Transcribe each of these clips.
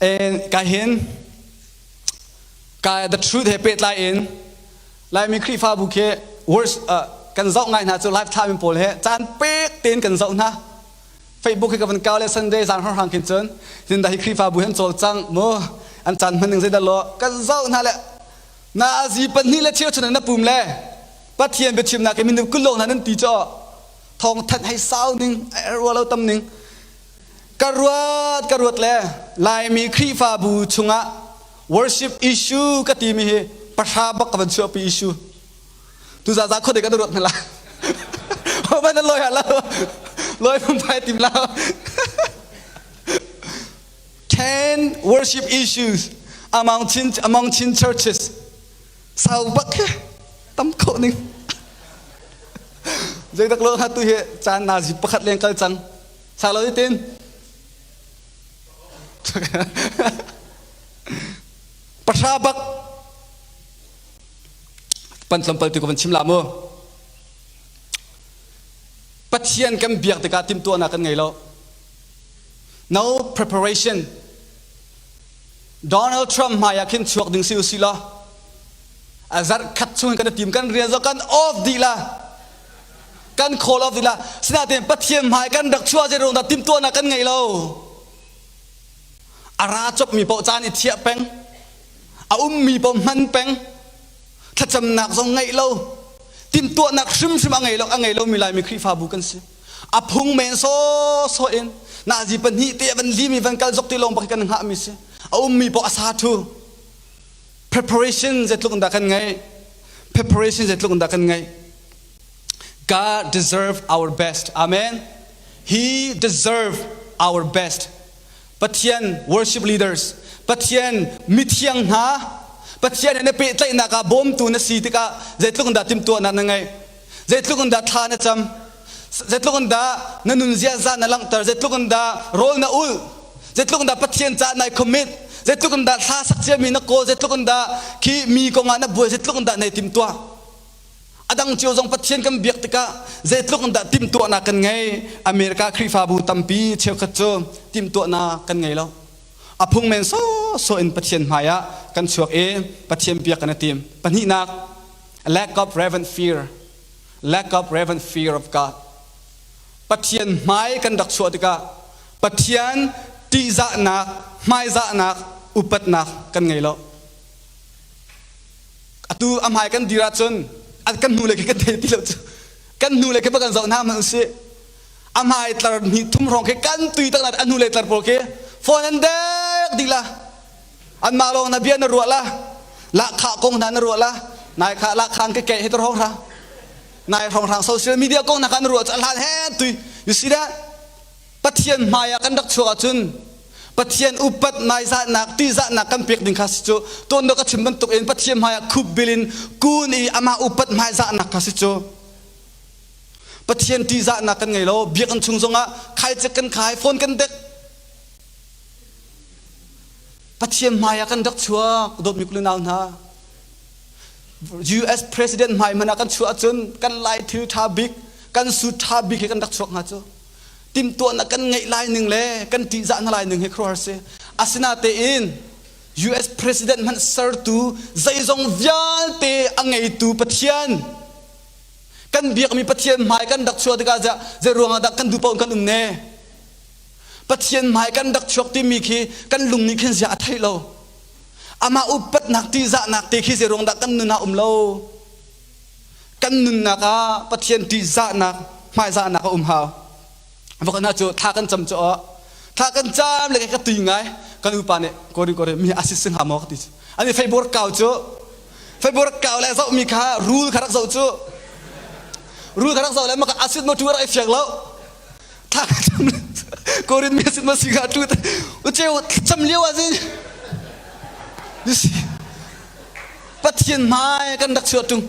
And kahin ka the truth he pehtlai in Laimi Khrihfabu khi words uh, kan zoh ngai hna cu lifetime in pawl he caan pek tein kan zoh hna Facebook he ka van kau le Sunday zan har hang khin cun tin da hi Khrihfabu hen chol cang mu an chan man ning zeidal lo kan zoh hna le na azi pahnih le cheu chun na pum le pathian bia chim na ke min kulo hna nan ti cho thong that hei sau ning erwa lo tam ning ka ruat ka ruat le laimi khrihfabu chungah worship issue ka timi hi pahra bak ka van chuahpi issue tu za za kho dek an ruat na la ban loi ha lo loi phun pai tim la ten worship issues among chin among chin churches sau bak he tam kho ning zek tak lo ha tu he chan na zi pakhat leng kal chang Chak lo tin. Pahra bak pan tlampal tu ko van chim la mu. Pathian kan biak tikah timtuahnak kan ngei lo. No preparation. Donald Trump hmai ah khin chuak ding si u si la. A zarh khat chung kan tim kan real kan off di la. kan call off ila sinain pathian hmai kan rak chua zei rawng dah timtuahnak kan ngei lo a ra chopmi paoh caan i thiah peng a ummi paoh hman peng thlacamnak zong ngei lo timtuahnak hrimhrim a ngei lo a ngei lo mi laimi khrihfabu kan si a phung men so so in nazi pahnih te van li mi van kal zok ti lawng bak kan hngah mi si a ummi paoh a sa thu Preparation zeitluk in dah kan ngaih? Preparation zeitluk in dah kan ngaih? God deserve our best. Amen. He deserve our best. Pathian worship leaders, Pathian mithiang hna, Pathian he na pehtlaihnak ah bawmtu na si tikah zeitluk in dah timhtuahnak na ngeih? Zeitluk in dah thla na cam? Zeitluk in dah na nunzia za na langhter? Zeitluk in dah rawl na ulh? Zeitluk in dah Pathian caah nai commit? Zeitluk in dah thla sak ciami na kawl? Zeitluk in dah khi mi kongah na buai? Zeitluk in dah nai timtuah? A dang cio zong Pathian kan biak tikah zeitluk in dah timtuahnak kan ngei? America Khrihfabu tampi cheukhat cu timtuahnak kan ngei lo. A phung men sawsawh in Pathian hmaiah kan chuak i Pathian bia kan i tim. Pahnihnak, lack of reverent fear, lack of reverent fear of God. Pathian hmai kan rak chuah tikah Pathian ṭihzahnak, hmaizahnak, upatnak kan ngei lo. Atu a hmai kan dir ahcun a kan hnu lei khi kan thei ti lo cu. Kan hnu lei khi pa kan zoh hna hmanh usih. A hmai tlar hnih thum hrawng khi kan tui tak na a hnu lei tlar pawl khi phone an dek dila anmah lawng na bia na ruah la lahkhah kong hna na ruah la nai kha lahkhang ke ke hi tur hong ra nai hong rang social media kong na kan ruah ca hlan he tui you see that pathian hmai ah kan rak chuak ahcun pathian upat nai zatnak ti zatnak kan pek ding kha si cu ton do ka chim bantuk in pathian hmai ah khup bilin kun i ama upat hmai zatnak kha si cu pathian ti zatnak kan ngei lo biak an chung zongah khai cek kan khai phone kan dek Pathian hmai ah kan rak chuak dawtmi kulu nau hna. US president hmai man ah kan chuah ahcun kan lai thil tha bik, kan sut tha bik he kan rak chuak hnga cu. Timtuahnak kan ngeih lai ning le kan tihzah hna lai ning hi khuaruahhar si. Asinatein US president hmanh sertu zeizong vialte a ngeitu Pathian kan biakmi Pathian hmai kan rak chuah tikah zei ruang ah dah kan duh paoh in kan um ne? Pathian hmai kan rak chuak timi khi kan lung nih khin ziah a theih lo. Amah upatnak ṭihzahnak te khi zeiruang dah kan nun ah um lo? Kan nunnak ah Pathian ṭihzahnak, hmaizahnak a um hau. Va kal hna cu thla kan cam cu aw. Thla kan cam le ka tui ngai. Kan upa nih korin korin mi asit sin ha maw ka ti cu. An i feibor kau cu. Feibor kau le zohmi kha rul kha rak zoh cu. Rul kha rak zoh le maka asit maw tu rak i fiak lo. thla tham korin me sin ma siga tu uche cham liu a zin nisi pathian mai kan dak chua tung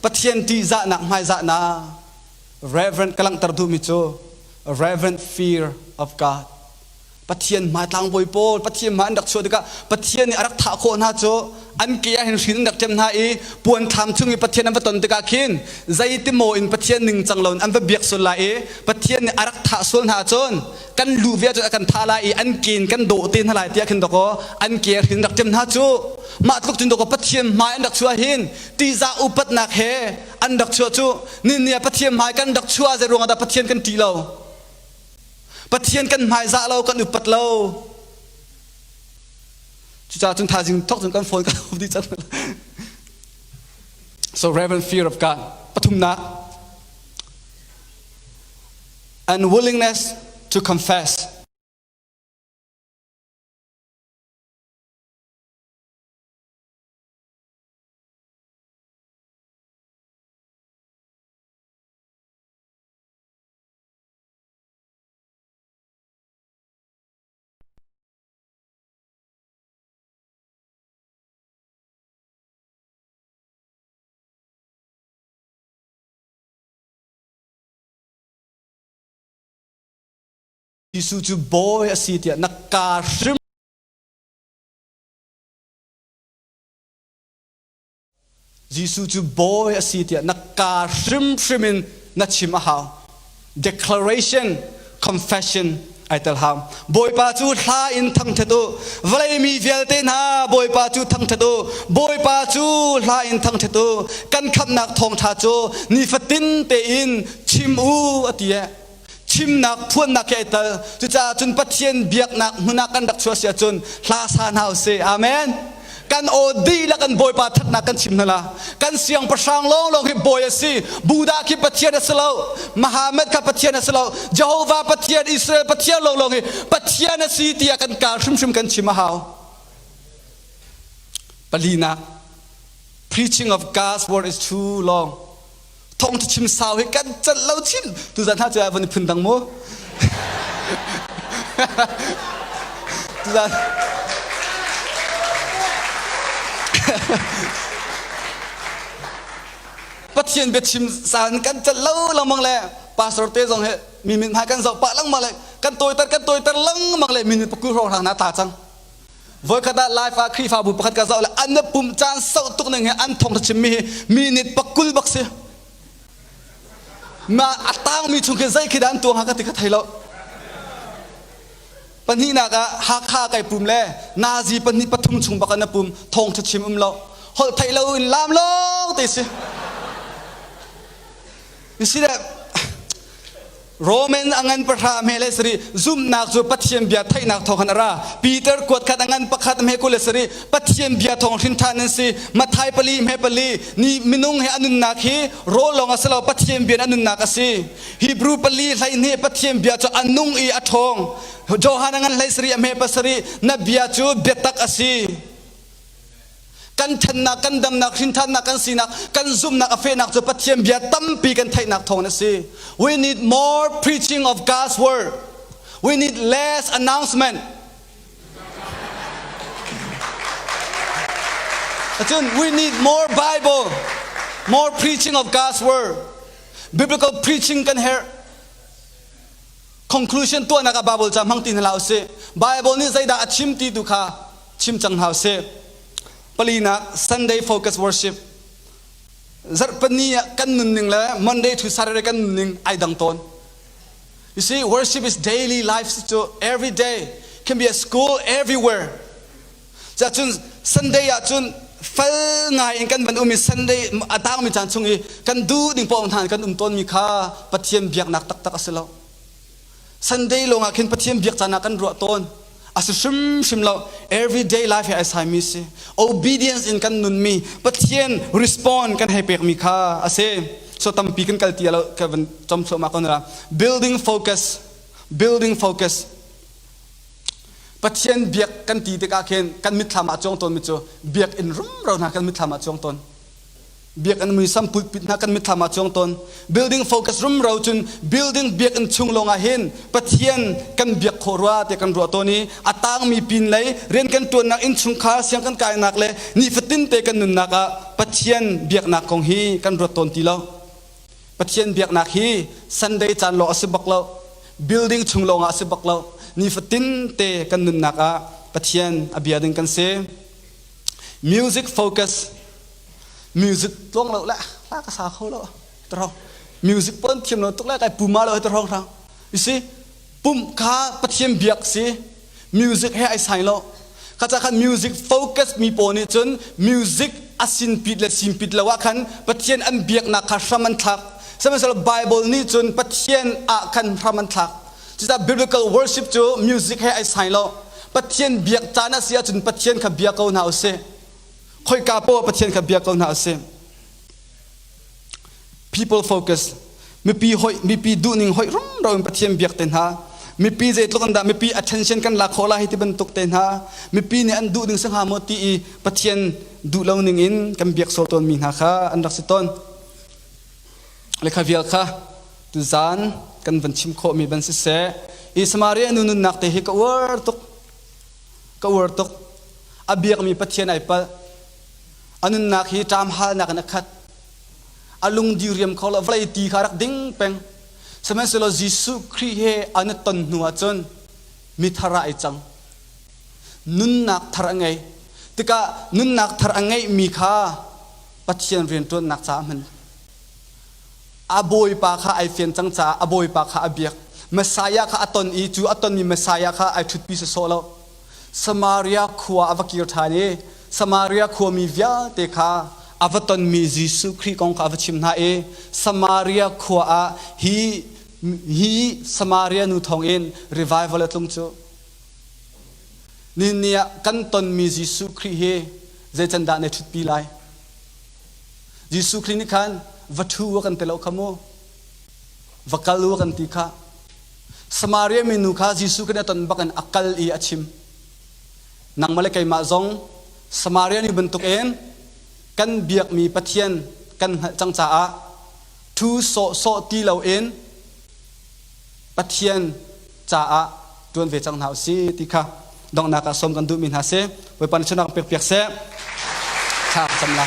pathian ti za na mai za na reverend kalang tar du mi chu reverend fear of god Pathian hmai tlangbawi pawl Pathian hmai an rak chuah tikah Pathian nih a rak thah khawh hna cu an ke ah hin hrin an rak ṭem hna i puanthlang chung i Pathian an va ton tikah khin zeitimaw in Pathian ningcang loin an va biak sual lai i Pathian nih a rak thah sual hna cun kan lu ve cu a kan thah lai i an ke in kan dawh te hna lai tiah khin dawkaw an ke ah hrin rak ṭem hna cu mah tluk cun dawkaw Pathian hmai an rak chuah hin ṭihzah upatnak he an rak chuah cu ninni ah Pathian hmai kan rak chuah zei ruangah dah Pathian kan ṭih lo Pathian kan hmaizah lo kan upat lo cucaah cun thaizing thok cun kan phone kan hub dih cang so reverent fear of God pathumnak and willingness to confess Jesuh cu bawi a si tiah na kaa hrim Jesuh cu Bawi a si tiah na kaa hrimhrim in na chim a hau. Declaration, confession ai tel hau. Bawipa cu hla in thangṭhat u. Vawlei mi vialte hna, Bawipa cu thangṭhat u. Bawipa cu hla in thangṭhat u. Kan khamhnak thawngṭha cu nifatin tein chim u a ti. Chimnak, phuannak he i tel. Cucaah cun Pathian biaknak hmun ah kan rak chuah si ahcun hla sa hna usih. Amen. Kan aw dihlak in Bawipa thatnak kan chim hna la. Kan siangpahrang lawnglawng hi Bawi a si. Buddha khi Pathian a si lo. Muhammad kha Pathian a si lo. Jehovah Pathian, Israel Pathian lawnglawng hi Pathian a si tiah kan kaal hrimhrim kan chim a hau. Palinak. Preaching of God's word is too long. thong cu chim sau hi kan celh lo chin tuzan hna cu von phun dang mu tuzan pathian biachim san kan celh lo langmang le pastor te zong he mi mit hmai kan zoh pah langmang le kan toitar kan toitar langmang le minute paku ro rang na ta cang Voikhat ah Laifa Khrihfabu pakhat ka zoh le an na pum caan sau tuk ning he an thong ta chim mi hi minit pakul bak si. Na a tangmi chung khin zei khi dan tuang ha ka ti ka thei lo. Pahnih nak ah Hakha kai pum le Nazi pahnih pathum chung bak an na pum thong ta chim um lo. Holh thei lo in lam long te si. You see that? Roman angan pahra me le sari zumnak cu pathian bia theihnak thawng han ara Peter kuat khat angan pakhat me ku le sari pathian bia thawng hrin than nan si Mathai pali me pali ni minung he anunnak hi rawl long asilo pathian bia anunnak asi Hebrew pali hlei ne pathian bia cu anung i athong Johan angan hlei sari ame pasari na bia cu biatak asi kan thennak kan damnak hrinthannak kan sinak kan zumnak a fehnak cu Pathian bia tampi kan theihnak thawng a si we need more preaching of God's word we need less announcement Cun we need more Bible more preaching of God's word biblical preaching kan herh conclusion tuahnak ah Bible ca hmang ti hna la usih Bible nih zeidah a chim ti tu kha chim cang hau seh palinak sunday focus worship zarhpani ah kan nunning le monday to saturday kan nunning ai dang tawn you see worship is daily life cu every day can be at school everywhere cun sunday ah cun fel ngai in kan van um i sunday a tangmi caan chung i kan du ding pawng than kan um tawn mi kha pathian biaknak taktak a si lo Sunday lawng ah khin Pathian biak caan ah kan ruah tawn a si hrimhrim lo everyday life he ai saimi si obedience in kan nunmi Pathian respond kan hei pekmi kha a si so tampi kan kal ti lo ka van com thluahmah kon ra building focus building focus Pathian biak kan ti tikah khin kan mitthlam ah cuang tawn mi cu biak in rumro hna kan mitthlam ah cuang tawn biakinn muisam pulpit hna kan mitthlam ah chuang ton building focus rumro cun building biakinn chung lawngah hin pathian kan biak khawh rua te kan ruah ton i a tangmi pin lei rian kan tuannak inn chungkhar siang kan kainak le nifatin te kan nunnak ah pathian biaknak kong hi kan ruat ton ti lo pathian biaknak hi sunday caan lawng a si bak lo building chung lawngah a si bak lo nifatin te kan nunnak ah pathian a bia ding kan si music focus music tlong lo le la ka sa kho lo taro music pon thiam lo tuk le kai puma lo te rong rang you see pum kha pathiam biak si music he ai sai lo kacha khan music focus mi po nih cun music asin pit le sim pit lo ah khan pathian an biaknak kha hram an thlak sihmanhsehlaw bible nih cun pathian ah khan hram an thlak Cucaah biblical worship cu music he ai sai lo. Pathian biak caan a si ahcun Pathian kha bia ko hna usih. Khoika poah Pathian kha bia ko hna usih. People focus. Mipi hoih, mipi duhning hoih rumro in Pathian biak te hna. Mipi zeitluk in dah mipi attention kan la khawh lai hi ti bantuk te hna. Mipi nih an duh ding si hnga maw ti i Pathian duh lo ning in kan biak sual tawnmi hna kha an rak si tawn. Lekha vial kha tuzaan kan van chim khawhmi ban siseh i Samaria nu nunnak te hi ka uar tuk ka uar tuk a biakmi Pathian ai palh a nunnak hi ṭam halnak in a khat a lung diriam kho lo vlei ti kha rak ding peng sihmanhsehlaw Jesuh Khrih he an i ton hnu ah cun mithara ai cang nunnak thar a ngei tikah nunnak thar a ngeihmi kha Pathian rianṭuannak caah hman. A bawipa kha ai fian cang caah a bawipa kha a biak. Messiah kha a ton i cu a tonmi Messiah kha ai ṭhutpi sawsawh lo. Samaria khua a va kir ṭhan i Samaria khuami vialte kha a va tonmi Jesuh Khrih kong kha a va chim hna i Samaria khua ah hi hi Samaria nu thawngin revival a tlung cu. Ninni ah kan tonmi Jesuh Khrih hi zeicandah na ṭhutpi lai? Jesuh Khrih nih khan va ṭhu u kan ti lo kha mu. Va kal u kan ti kha. Samaria minu kha Jesuh kan i ton bakin a kal i a chim. Nangmah le keimah zong Samaria ni bantukin kan biakmi Pathian kan hngalh cang caah ṭhu sawhsawh ti loin Pathian caah ṭuan ve cang hna u si ti kha donghnak ah sawm kan duhmi hna si. Bawipa nih sunak pekpiak seh. Thla cam la.